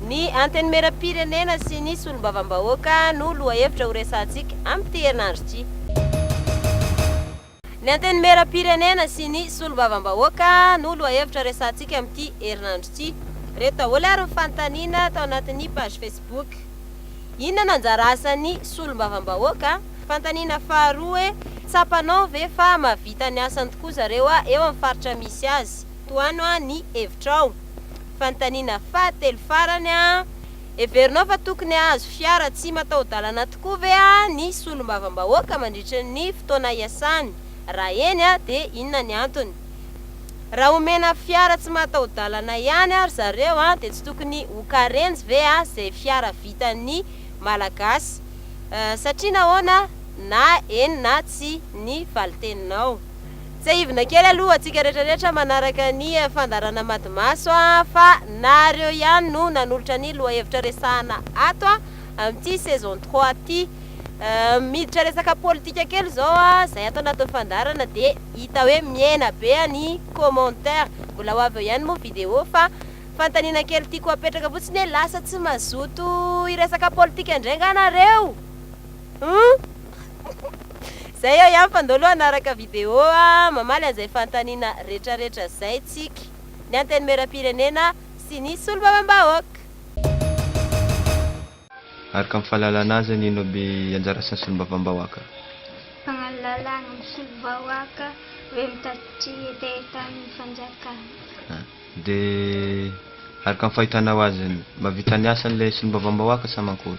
Ny Antenimierampirenena sy ny Solombavambahoaka no lohahevitra horesahantsika amin'ity herinandro ity. Ny Antenimierampirenena sy ny Solombavambahoaka no lohahevitra resahantsika amin'ity herinandro ity. Ireto daholo ary ny fanontaniana tao anatin'ny page Facebook. Inona no anjara asan'ny Solombavambahoaka? Fanontaniana faharoa hoe, tsapanao ve fa mahavita ny asany tokoa zareo eo amin'ny faritra misy azy? Tohano an ny hevitrao. Fanontaniana fahatelo farany an, heverinao fa tokony hahazo fiara tsy mataho-dalana tokoa ve an ny solombavambahoaka mandritra ny fotoana hiasany? Raha eny an dia inona ny antony? Raha omena fiara tsy mataho-dalana ihany an ry zareo an dia tsy tokony ho karenjy ve an izay fiara vitan ny malagasy? Satria nahoana na eny na tsia ny valiteninao? Tsiahivina kely aloha antsika retraretra manaraka ny fandaharana Madimaso fa nareo ihany no nanolotra ny lohahevitra resahana ato amin'ity saison trois ity. Miditra resaka politika kely izao izay ato anatin'ny fandaharana dia hita hoe mihena be ny commentaires. Mbola ho avy eo ihany moa video fa fanontaniana kely tiako apetraka fotsiny hoe lasa tsy mazoto hiresaka politika indray nga nareo? Humm. Zay aho ihany fa ndao aloha hanaraka video a, mamaly an'izay fanontaniana retraretra zay tsika, ny Antenimierampirenena sy ny Solombavambahoaka. Araka ny fahalalana azy any ino aby anjara asan'ny Solombavambahoaka? Mpagnalala ny Solombavambahoaka ve mitatitry hetahetan'ny fanjakana? Dia araka ny fahitanao azy, mahavita ny asany ilay Solombavambahoaka sa mankory?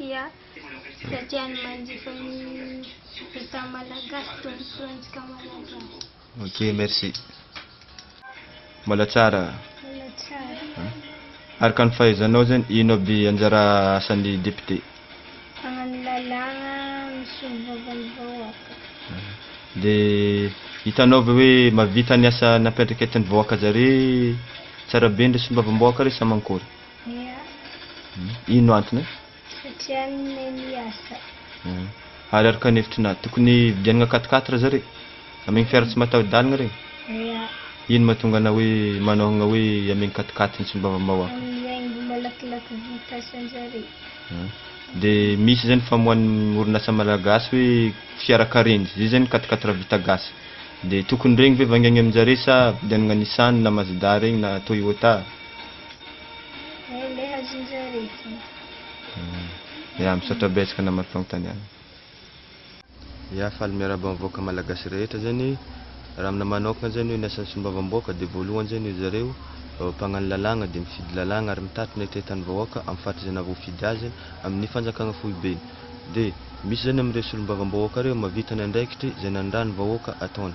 Ia, dia tiany manjifa ny Etat malagasy toy ny filohantsika malagasy. Ok, merci. Mbola tsara. Mbola tsara. Araka ny fahaizanao zany, ino aby anjara asan'ny député? Magnano lalàgna, misolovava ny vahoaka. Dia hitanao ve hoe mahavita ny asa nampiandraiketin'ny vahoaka zare tsara be ndre solombavambahoaka re sa mankory? Ia. Ino no antony? Satria ny Neny asa. Ia. Ary araka ny hevitry Nat, tokony hividianagna quatre quatre zare? Amegny fiara tsy mataho-dalagna regny? Ia. Ino mahatonga anao hoe manaohagna hoe amegny quatre quatre ny tsy mivavamahoaka? Amin'ny haingo malakilaky vita asan-jare. Ia. Dia misy zany famoahan'ny orinasa malagasy hoe fiara karenjy, zay zany quatre quatre vita gasy. Dia tokony regny ve vangaigny amin-jare sa vidianagna Nissan na Mazda regny na Toyota? Ya misaotra betsaka namana fanontaniana. Ya faly miarahaba ny vahoaka malagasy rehetra zany raha amina manokana zany hoe ny asan'ny solombavambahoaka dia voalohany zany hoe zareo mpagnano lalàgna dia mifidy lalàgna ary mitatitra ny hatrehitan'ny vahoaka amin'ny faritra izay nahavoafidy azy amin'ny fanjakagna foibeny dia misy zany amin'ireo solombavambahoaka ireo mahavita ny andraikitry izay nanindran'ny vahoaka ataony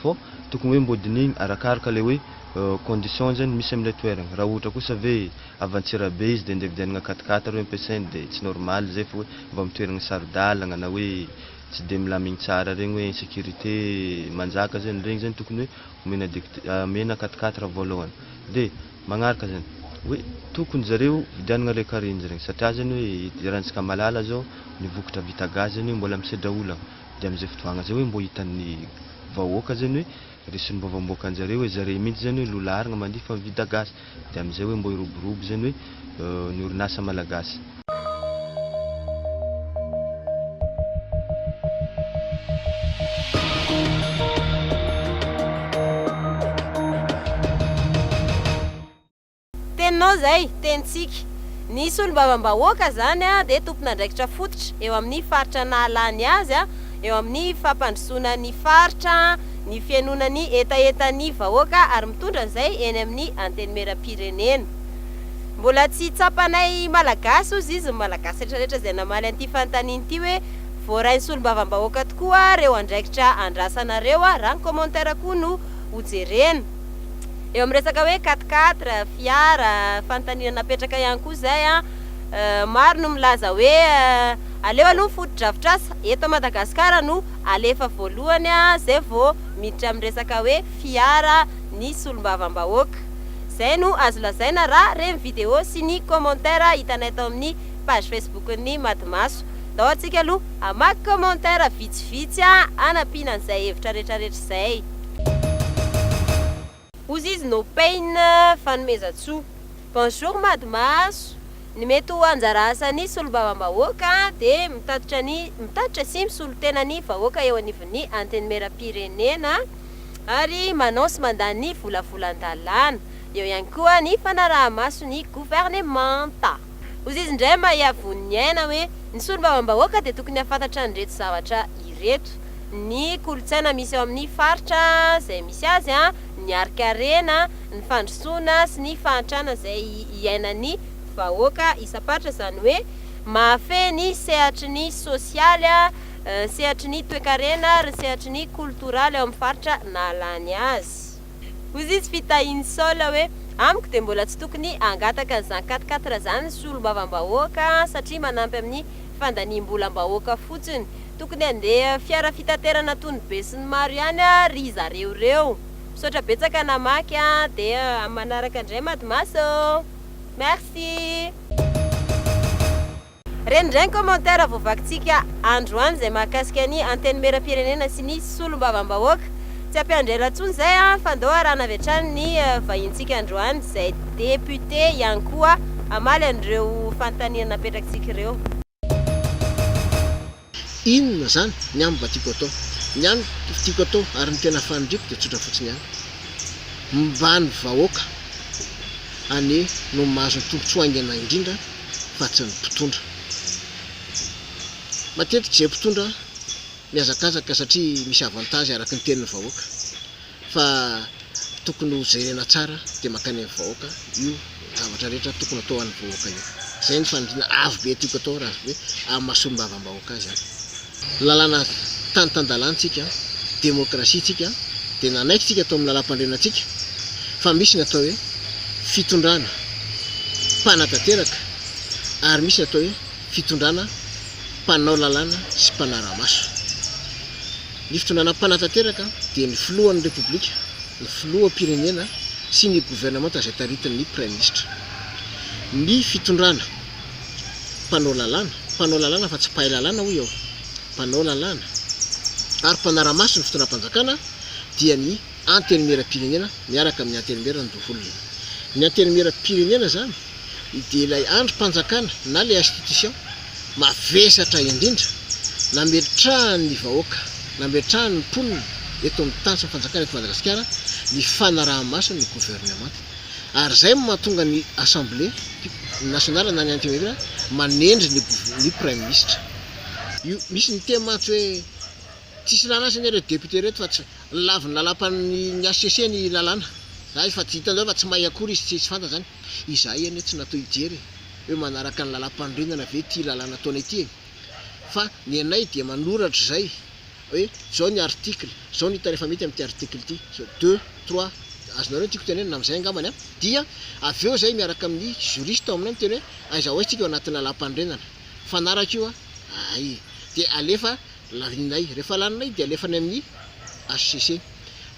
Fô tokony hoe mbô dinihigny arakaraka le hoe conditions zany misy am'ilay toeragna. Raha ohatra kosa ve avy Antsirabe izy de ndeha vidianagna quat-quatre reo ampiasaigny de tsy normal zay fa hoe avy amy toeragna saro-dalagna na hoe tsy de milamigny tsara regny hoe insécurité manjaka zany, regny zany tokony hoe omena dekt amena quat-quatre voalohany. De magnaraka zany, hoe tokony zareo vidianagna le carines regny satria zany hoe i erantsika malala zao ny vokatra vita gasy zany io mbola misedra olagna. dia amin'izay fdvagna izay hoe mbo hitan'ny vahoaka zany hoe resy ny vaovao miboaka anjareo hoe zareo mihintsy zany hoe lola arigna mandihy fa mivida gasy dia amin'izay hoe mbo hiroborobo zany hoe ny orinasa malagasy. Teninao izay, tenintsika. Ny solombavambahoaka izany dia tompon'andraikitra fototra eo amin'ny faritra nahalany ny azy eo amin'ny fampandrosoana ny faritra, ny fihainoana ny hetahetan'ny vahoaka ary mitondra an'izay eny amin'ny Antenimierampirenena. Mbola tsy tsapanay Malagasy hozy izy ny Malagasy rehetrarehetra izay namaly an'ity fanontaniana ity hoe voarain'ny solombavambahoaka tokoa reo andraikitra andrasanareo raha ny commentaire koa no hojerena. Eo amin'ny resaka hoe quatre quatre, fiara, fanontaniana napetraka ihany koa izay an, maro no milaza hoe aleo aloha ny fotodrafitrasa eto Madagasikara no alefa voalohany izay vao miditra amin'ny resaka hoe fiara ny solombavambahoaka. Izay no azo lazaina raha re ny video sy ny commentaire hitanay tao amin'ny page Facebook-n'ny Madimaso. Ndao antsika aloha hamaky commentaire vitsivitsy hanampiana an'izay hevitra retraretra izay. Ozy izy no pain fanomezantsoa. Bonjour Madimaso, ny mety ho anjara asan'ny solombavambahoaka dia mitatitra ny mitatitra sy misolo tena ny vahoaka eo anivon'ny Antenimierampirenena ary manao sy mandany ny volavolan-dalàna. Eo ihany koa ny fanarahamaso ny governemanta. Hozy izy indray mba hiavoan'ny ny aina hoe ny solombavambahoaka dia tokony hahafantatra an'ireto zavatra ireto, ny kolontsaina misy ao amin'ny faritra izay misy azy, ny harinkarena, ny fandrosoana sy ny fahantrana izay iainan'ny vahoaka isam-paritra, izany hoe mahafehy ny sehatry ny sosialy, ny sehatry ny toekarena ary ny sehatry ny kolotoraly ao amin'ny faritra nahalany azy. Hozy izy fitahian'i Saola hoe, Amiko dia mbola tsy tokony hangataka an'izany quatre quatre izany ny solombavambahoaka satria manampy amin'ny fandaniam-bolam-bahoaka fotsiny. Tokony handeha fiara fitaterana toy ny besinimaro ihany ry zareo ireo. Misaotra betsaka namaky a! Dia amin'ny manaraka indray Madmas ô! Merci! Renireny commentaire voavakintsika androany zay mahakasika ny Antenimierampirenena sy ny Solombavambahoaka. Tsy ampiandry ela tsony zay an, fa ndao arahana avy hatrany ny vahintsika androany zay député ihany koa hamaly an'ireo fanontaniana napetrakintsika ireo. Inona zany ny amiko mba tiako atao? Ny an tiako atao ary ny tena faniriako dia tsotra fotsiny ihany. Mba ny vahoaka anie no mahazo ny tombotsoa haingana indrindra fa tsy ny mpitondra. Matetika izay mpitondra mihazakazaka satria misy avantage araky ny tenin'ny vahoaka. Fa tokony ho jerena tsara de mankany amin'ny vahoaka io zavatra rehetra tokony atao an'ny vahoaka io. Zay ny faniriana avo be tiako atao raha avy amin'ny maha solombavambahoaka azy aho. Lalàna tany tan-dalàna tsika, demokrasia tsika de nanaiky tsika tao amin'ny lalampandriana tsika fa misy ny atao hoe fitondrana mpanatanteraka ary misy ny atao hoe fitondrana mpanao lalàna sy mpanara-maso. Ny fitondrana mpanatanteraka dia ny Filohan'ny Repoblika, ny Filoham-pirenena sy ny governemanta izay taritin'ny Praiminisitra. Ny fitondrana mpanao lalàna, mpanao lalàna fa tsy mpahay lalàna hoy aho, mpanao lalàna ary mpanara-maso ny fitondram-panjakana dia ny Antenimieram-pirenena miaraka amin'ny Antenimieran-doholona. Ny Antenimieram-pirenena izany dia ilay andrim-panjakana na ilay institution. mavesatra indrindra nametrahany ny vahoaka, nametrahany ny mponina eto amin'ny tany sy ny fanjakana eto Madagasikara ny fanaraha-maso ny governemanta. Ary izay no mahatonga ny Assemblée nationale na ny Antenimiera manendry ny ny Praiminisitra. Io misy ny teny mantsy hoe tsisy lalana aza anie ireto députés ireto fa tsy lavin'ny lalam-pan ny HCC ny lalàna. Zany fa tsy hitanareo fa tsy may akory izy tsy tsy fantany zany. Izahay anie tsy natao hijery e! hoe manaraka ny lalam-panorenana ve ity lalàna ataonay ity e! fa ny anay dia manoratra izay hoe izao ny article, izao ny hita rehefa mety amin'ity article ity, izao deux, trois, azonareo ny tiako tenenina na amin'izay angambany an! dia avy eo izahay miaraka amin'ny juriste ao aminay miteny hoe aiza ho aiza isika eo anatin'ny lalam-panorenana? mifanaraka io an! hay! dia alefa laninay, rehefa laninay dia alefa any amin'ny HCC.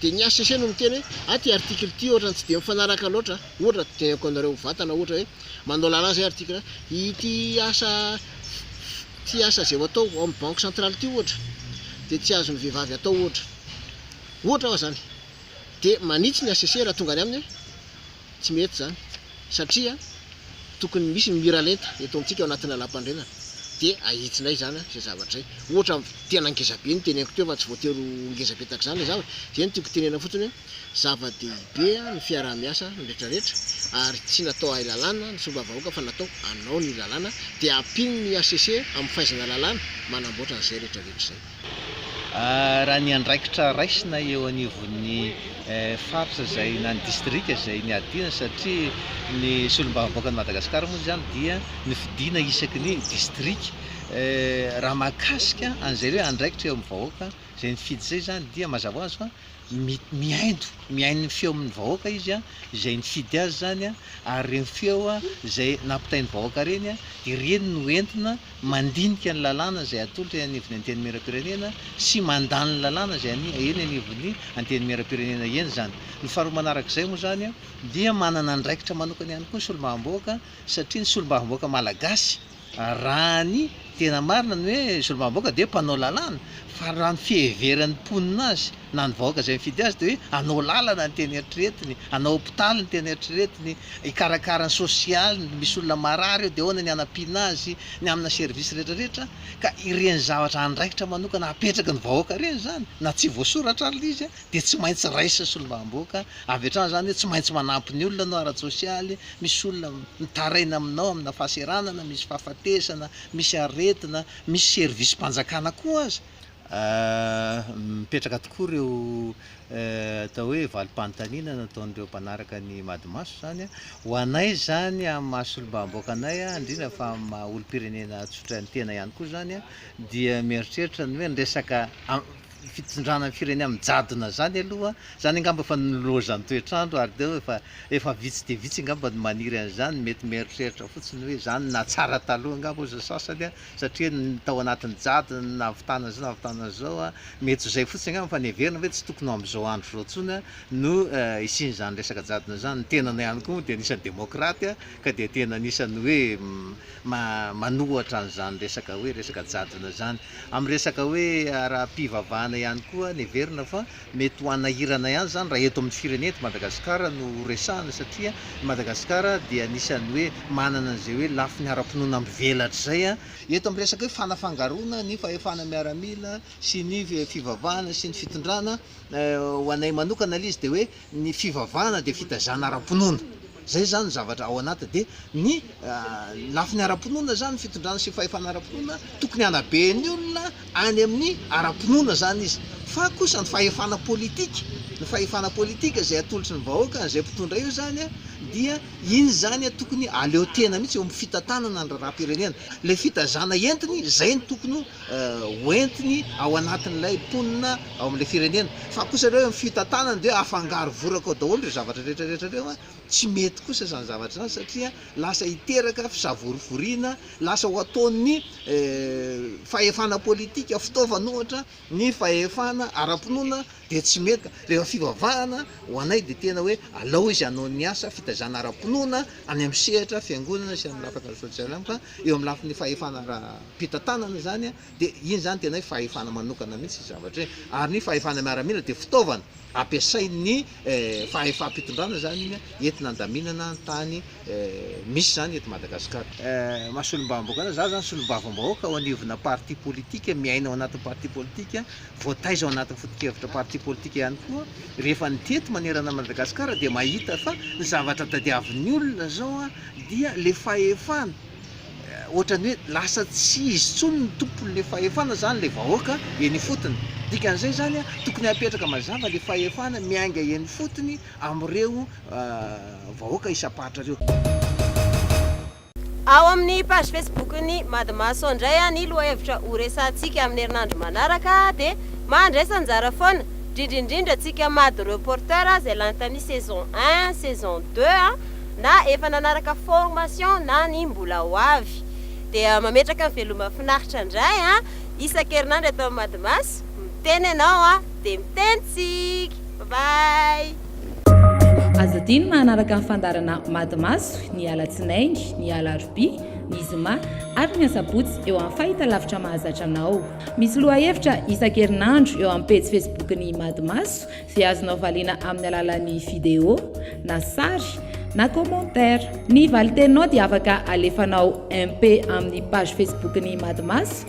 Dia ny HCC no miteny hoe, ah ity article ity ohatrany tsy dia mifanaraka loatra, ohatra raha teneniko anareo mivantana ohatra hoe manao lalàna izay article hoe ity asa ity asa izay ho atao ao amin'ny banque centrale ity ohatra dia tsy azon'ny vehivavy atao ohatra. Ohatra fa izany. Dia manitsy ny HCC raha tonga any aminy hoe Tsy mety izany satria tokony misy ny miralenta eto amintsika ao anatin'ny Lalàmpanorenana dia ahitsinay izany izay zavatra izay. Ohatra tena ngeza be ny teneniko teo fa tsy voatery ho ngeza be tahaka izany ilay zavatra. Izay no tiako tenenina fotsiny hoe zava-dehibe ny fiaraha-miasa ny rehetrarehetra ary tsy natao ahy lalàna ny sombam-bahoaka fa natao anao ny lalàna dia ampino ny hcc amin'ny fahaizana lalàna manamboatra an'izay rehetrarehetra izay. Raha ny andraikitra raisina eo anivon'ny faritra izay na ny distrika izay niadiana satria ny solombavambahoakan'i Madagasikara moa izany dia nofidina isaky ny distrika raha mahakasika an'izay hoe andraikitra eo amin'ny vahoaka izay nifidy izay izany dia mazava ho azy fa mihaino mihaino ny feo amin'ny vahoaka izy a, izay nifidy azy izany a, ary ireny feo a izay nampitain'ny vahoaka ireny a, ireny no entina mandinika ny lalàna izay atolotra eny anivon'ny Antenimierampirenena sy mandany ny lalàna izay any eny anivon'ny Antenimierampirenena eny izany. Ny faharoa manaraka izay moa izany a, dia manana andraikitra manokana ihany koa ny solombavambahoaka, satria ny solombavambahoaka malagasy, Raha ny tena marina ny hoe solombavambahoaka dia mpanao lalàna fa raha ny fiheveran'ny mponina azy na ny vahoaka izay mifidy azy dia hoe hanao lalana ny tena eritreretiny, hanao hopitaly ny tena eritreretiny, hikarakara ny sosialiny, misy olona marary eo dia ahoana ny hanampiana azy ny amina service retraretra ka ireny zavatra andraikitra manokana apetraky ny vahoaka ireny izany na tsy voasoratra ary ilay izy an! dia tsy maintsy raisin'ny solombavamboaka avy hatrany izany hoe tsy maintsy manampy ny olona ianao ara-tsosialy, misy olona mitaraina aminao amina fahaseranana, misy fahafatesana, misy aretina, misy servisim-panjakana koa aza. Mipetraka tokoa ireo atao hoe valim-panontaniana nataon'ireo mpanaraka ny Madimaso izany ho anay izany amin'ny maha solombavamboaka anay, indrindra fa amin'ny maha olom-pirenena tsotra ny tena ihany koa izany dia mieritreritra ny hoe ny resaka ny fitsindrana ny firenena amin'ny jadona izany aloha, izany angamba efa nilaozan'ny toetr'andro ary dia efa efa vitsy dia vitsy angamba ny maniry an'izany, mety mieritreritra fotsiny hoe izany no nahatsara taloha angamba hozy ny sasany an, satria tao anatin'ny jadona ny nahavitana izao nahavitana izao an, mety ho izay fotsiny angamba fa ny heverina ve tsy tokony ho amin'izao andro izao intsony no hisian'izany resaka jadona izany, ny tenanao ihany koa moa dia anisan'ny demokraty an, Ka dia tena anisan'ny hoe manohatra an'izany resaka hoe resaka jadona izany. Amin'ny resaka hoe ara-pivavahana ihany koa neverina fa mety ho hanahirana ihany izany raha eto amin'ny firenena eto Madagasikara no resahana satria i Madagasikara dia anisan'ny hoe manana an'izay hoe lafiny ara-pinoana mivelatra izay. Eto amin'ny resaka hoe fanafangaroana ny fahefana miaramila sy ny fivavahana sy ny fitondrana, ho anay manokana ilay izy dia hoe, ny fivavahana dia fitaizana ara-pinoana, zay zany ny zavatra ao anaty de ny lafiny ara-pinoana zany fitondrana sy fahefana ara-pinoana tokony hanabe ny olona any amin'ny ara-pinoana zany izy fa kosa ny fahefana politika ny fahefana politika zay atolotry ny vahoaka an'izay mpitondra io zany a dia iny zany a tokony aleo tena mihitsy eo amin'ny fitantanana ny raharaham-pirenena le fitaizana entiny zay ny tokony hoentiny ao anatin'ilay mponina ao amin'ilay firenena. Fa kosa ireo eo amin'ny fitantanana dia afangaro voraka ao daholo ireo zavatra rehetrarehetra ireo. Tsy mety kosa izany zavatra izany satria lasa hiteraka fisavorovoriana, lasa ho ataon'ny fahefana politika fitaovana ohatra ny fahefana ara-pinoana dia tsy mety. Rehefa fivavahana ho anay dia tena hoe alao izy hanao ny asa fitaizana ara-pinoana any amin'ny sehatra fiangonana sy amin'ny lafatra sosialy aminy fa Eo amin'ny lafiny fahefana ara-pitantanana izany dia iny izany tena hoe fahefana manokana mihitsy io zavatra io. Ary ny fahefana miaramila dia fitaovana ampiasain'ny fahefam-pitondrana izany iny entina handaminana ny tany misy izany eto Madagasikara. Maha solombavambahoaka anao, za zany solombavambahoaka ao anivona parti politique, miaina ao anatin'ny parti politique. Voataiza ao anatin'ny foto-kevitra parti politika ihany koa rehefa nitety manerana an'i Madagasikara dia mahita fa ny zavatra tadiavin'ny olona izao dia ilay fahefana ohatran'ny hoe lasa tsy izy intsony no tompon'ilay fahefana izany ilay vahoaka eny ifotony. Dikan'izay izany tokony hapetraka mazava ilay fahefana miainga eny ifotony amin'ireo vahoaka isam-paritra ireo. Ao amin'ny page Facebook-n'ny Madmaso indray ny lohahevitra ho resahantsika amin'ny herinandro manaraka dia mahandraisa anjara foana, indrindra indrindra antsika Mad Reporter izay lany tamin'ny saison un, saison deux na efa nanaraka formation na ny mbola ho avy. Dia mametraka ny veloma finaritra indray isan-kerinandro eto amin'ny Madmaso, miteny ianao dia miteny tsika. Bye bye. Aza adino ny manaraka ny fandaharana Mady Maso ny alatsinainy, ny alarobia, ny zoma ary ny asabotsy eo amin'ny fahitalavitra mahazatra anao. Misy lohahevitra isan-kerinandro eo amin'ny pejy Facebook ny Mady Maso izay azonao valiana amin'ny alalan'ny video na sary na commentaire. Ny valin-teninao dia afaka alefanao MP amin'ny page Facebook ny Mady Maso